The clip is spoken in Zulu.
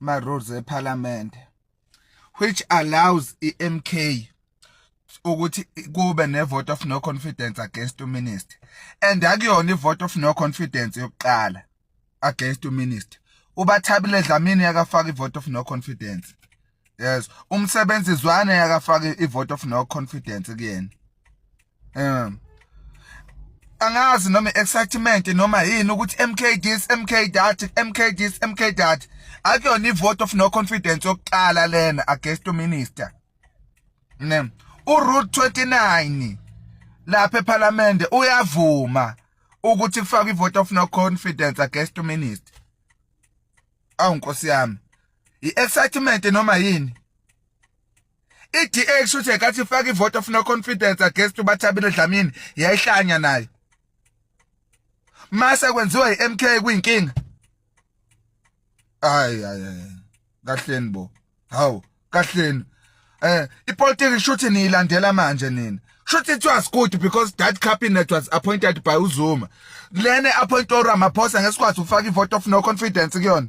ma rules eParliament which allows iMK ukuthi kube ne vote of no confidence against u minister and akuyona i vote of no confidence yokuqala against u minister ubathabile dlamini yakafaka i vote of no confidence yes umsebenzi zwane yakafake i vote of no confidence kuyena um angazi noma excitement noma yini ukuthi MK this MK that MK this MK that akuyona ivote of no confidence yokuqala lena against minister ne uRoute 29 lapha eParliament uyavuma ukuthi kufaka ivote of no confidence against minister awu nkosi yami i-excitement noma yini i-DA kushuthi yekathi ifaka ivote of no confidence against uBathabile Dlamini yayihlanya nayo mase kwenziwa iMK kuyinkinga ay ay ay kahleni bo hawu kahleni Eh ipolitiki kushuthi niyilandela manje nina. Kushuthi it was good because that cabinet was appointed by uZuma. Lene appoint uRamaphosa ngesikwazi ukufaka ivote of no confidence kuyona.